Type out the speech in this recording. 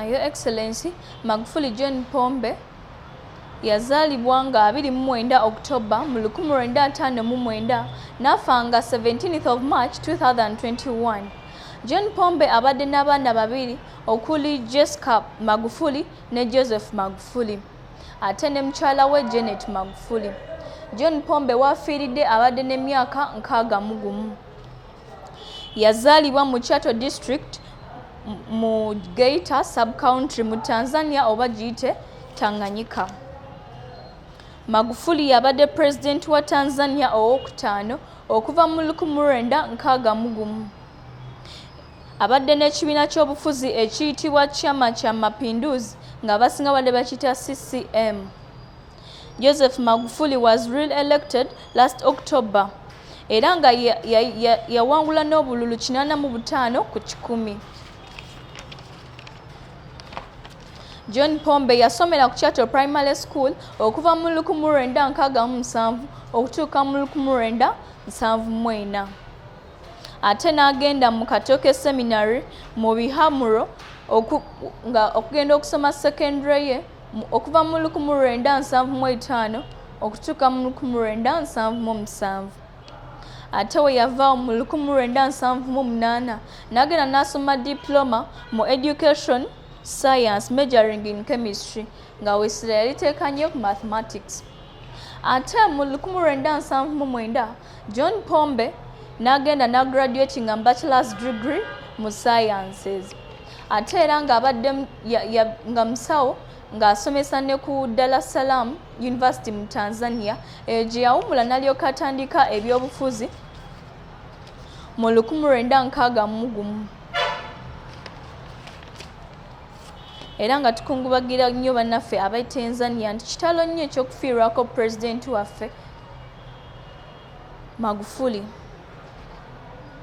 Your Excellency Magufuli John Pombe yazaalibwa nga 29 October mu 1959 n'afa nga 17th of March 2021. John Pombe abadde n'abaana babiri okuli Jessica Magufuli ne Joseph Magufuli ate ne mukyala we Janet Magufuli. John Pombe waafiiridde abadde n'emyaka nkaaga mu gumu. Yazaalibwa mu Chato District mu Geita Sub-County mu Tanzania oba giyite Tanganyika. Magufuli y'abadde Pulezidenti wa Tanzania owookutaano okuva mu 1961. Abadde n'ekibiina ky'obufuzi ekiyitibwa Chama cha Mapinduzi ng'abasinga babadde bakiyita CCM. Joseph Magufuli was re-elected last October era nga yawangula n'obululu 85 ku kikumi. John Pombe yasomera ku Chato Primary School okuva mu 1967 okutuuka mu 1974 ate n'agenda mu Katoke Seminary mu Bihamuro okugenda okusoma secondary ye. okuva mu lukumu lwenda nsanvu mu etaano okutuuka mu lukumu lwenda nsanvu mu musanvu ate we yava mu lukumu lwenda nsanvu mu munaana n'agenda n'asoma diploma mu education science majoring in chemistry nga wesira yaliteeka nnyo ku mathematics ate mu lukumu lwenda nsanvu mu mwenda John Pombe n'agenda n'agraduatinga mu bachelors degree mu sciences ate era ng'abadde nga musawo ng'asomesa ne ku Dar es Salaam University mu Tanzania eyo gye yawumula n'alyoka atandika ebyobufuzi mu lukumi lwenda nkaaga mu gumu era nga tukungubagira nnyo bannaffe abatanzania nti kitalo nnyo ekyokufiirwako pulezidenti waffe Magufuli.